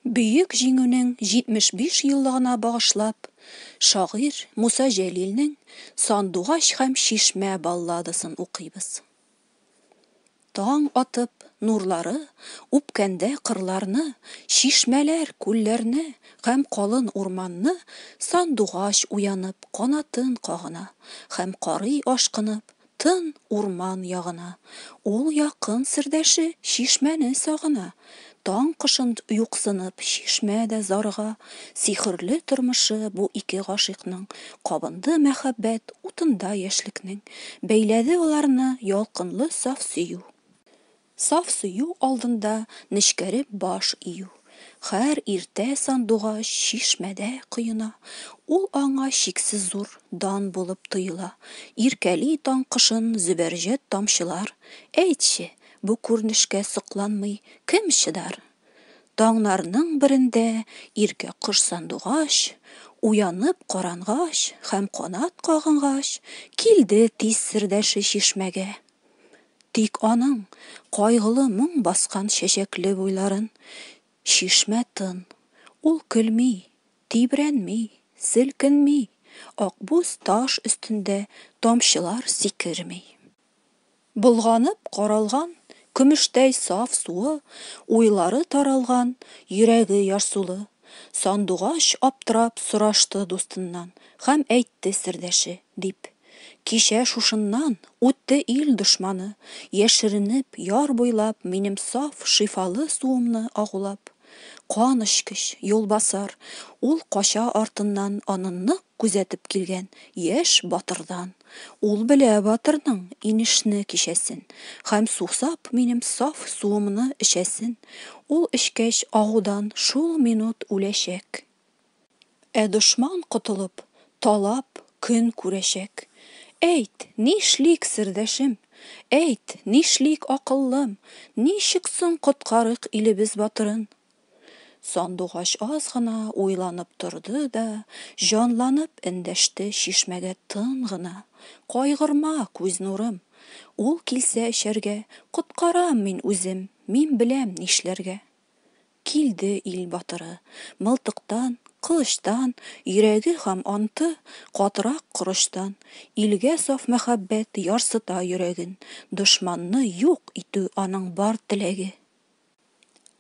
Бөек Җиңүнең 75 еллыгына багышлап, шагыйрь Муса Җәлилнең Сандугач һәм чишмә балладасын укыйбыз. Таң атып, нурлары үпкәндә кырларны, чишмәләр, күлләрне һәм калын урманны, сандугач уянып канатын кагына һәм карый ашкынып тын урман ягына, ул якын сердәше чишмәне сагына. Таң кошын юксынып, чишмә дә зарыга, сихерле тормышы бу ике гашыйкның, кабынды мәхәббәт утында яшьлекнең, бәйләде аларны ялкынлы саф сөю. Саф сөю алдында нечкәреп баш ию. Хәр иртә сандугач чишмәдә коена, ул аңа чиксез зур дан булып тоела. Иркәли таң кошын зөбәрҗәт тамчылар. Әйтче, Бу күренешкә сокланмый кем чыдар? Таңнарның берендә иркә кош сандугач, уянып карангач һәм канат кагынгач, килде тиз сердәше чишмәгә. Тик аның кайгылы моң баскан чәчәкле буйларын чишмә тын. Ул көлми, тибрәнми, селкенми, акбуз таш өстендә тамчылар сикерми. Болганып каралган, Көмештәй саф суы, Уйлары таралган, Йөрәге ярсулы. Сандугач аптырап Сорашты дустыннан, Хәм әйтте сердәше, дип. Кичә шушыннан Үтте ил дошманы, Яшеренеп, яр буйлап Минем саф, шифалы Суымны агулап. Кан эчкеч, юлбасар, Ул кача артыннан Аны нык Күзәтеп килгән яшь батырдан. Ул белә батырның инешне кичәсен Һәм сусап минем саф суымны эчәсен. Ул эчкәч агудан шул минут үләчәк. Ә дошман котылып, талап көн күрәчәк. Әйт, нишлик, сердәшем? Әйт, нишлик, акыллым? Ничек соң коткарыйк илебез батырын? Сандугач аз гына уйланып торды да, җанланып эндәште чишмәгә тын гына, Кайгырма, күз нурым. Ул килсә эчәргә, коткарам мин үзем, мин беләм нишләргә. Килде ил батыры. Мылтыктан, кылычтан, йөрәге һам анты катырак корычтан, илгә саф мәхәббәт ярсыта йөрәген, дошманны юк итү аның бар теләге.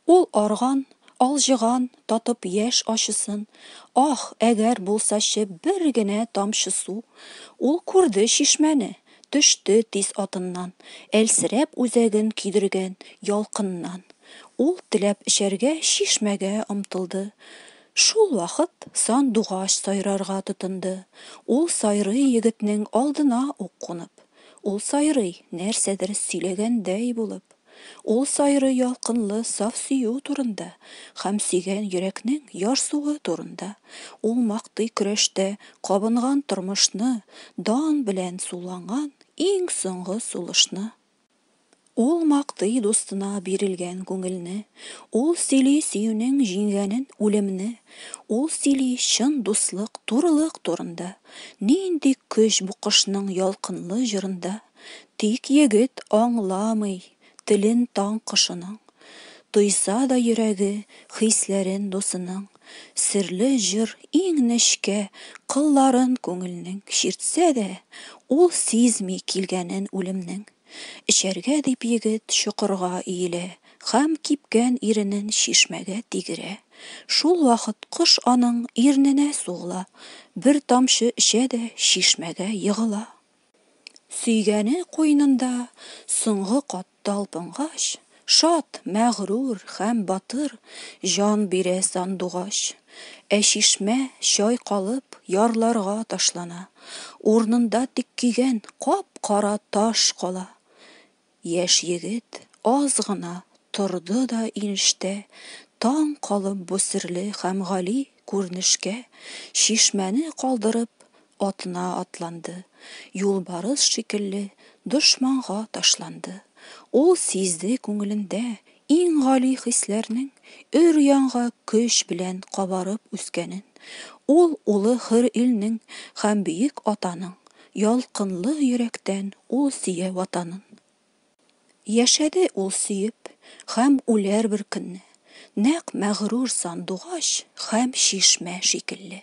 Ул арган, алҗыган, татып яшь ачысын, Ах, әгәр булсачы бер генә тамчы су! Ул күрде чишмәне, төште тиз атыннан, Әлсерәп үзәген көйдергән ялкыннан. Ул теләп эчәргә чишмәгә омтылды, Шул вакыт сандугач сайрарга тотынды. Ул сайрый егетнең алдына ук кунып, Ул сайрый, нәрсәдер сөйләгәндәй булып. Ул сайрый ялкынлы саф сөю турында һәм сөйгән йөрәкнең ярсуы турында, ул мактый көрәштә кабынган тормышны, дан белән суланган иң соңгы сулышны. Ул мактый дустына бирелгән күңелне, ул сөйли сөюнең җиңгәнен, үлемне, ул сөйли чын дуслык, турылык турында, нинди көч бу кошның ялкынлы җырында! Тик егет аңламый телен таң кошының, Тойса да йөрәге хисләрен дусының. Серле җыр иң нечкә кылларын күңелнең Чиртсә дә, ул сизми килгәнен үлемнең. Эчәргә дип егет чокырга иелә Һәм кипкән иренен чишмәгә тигерә. Шул вакыт кош аның ирненә сугыла, Бер тамчы эчә дә чишмәгә егыла. Сөйгәне куенында соңгы кат талпынгач, Шат, мәгърур һәм батыр җан бирә сандугач. Ә чишмә, чайкалып, ярларга ташлана, Урнында тик көйгән кап-кара таш кала. Яшь егет аз гына торды да инштә, таң калып бу серле һәм гали күренешкә, чишмәне калдырып, атына атланды, юлбарыс шикелле дошманга ташланды. Ул сизде күңелендә иң гали хисләрнең өр-яңга көч белән кабарып үскәнен, ул улы хөр илнең һәм бөек атаның ялкынлы йөрәктән ул сөя Ватанын. Яшәде ул сөеп һәм үләр бер көнне, нәкъ мәгърур сандугач һәм чишмә шикелле.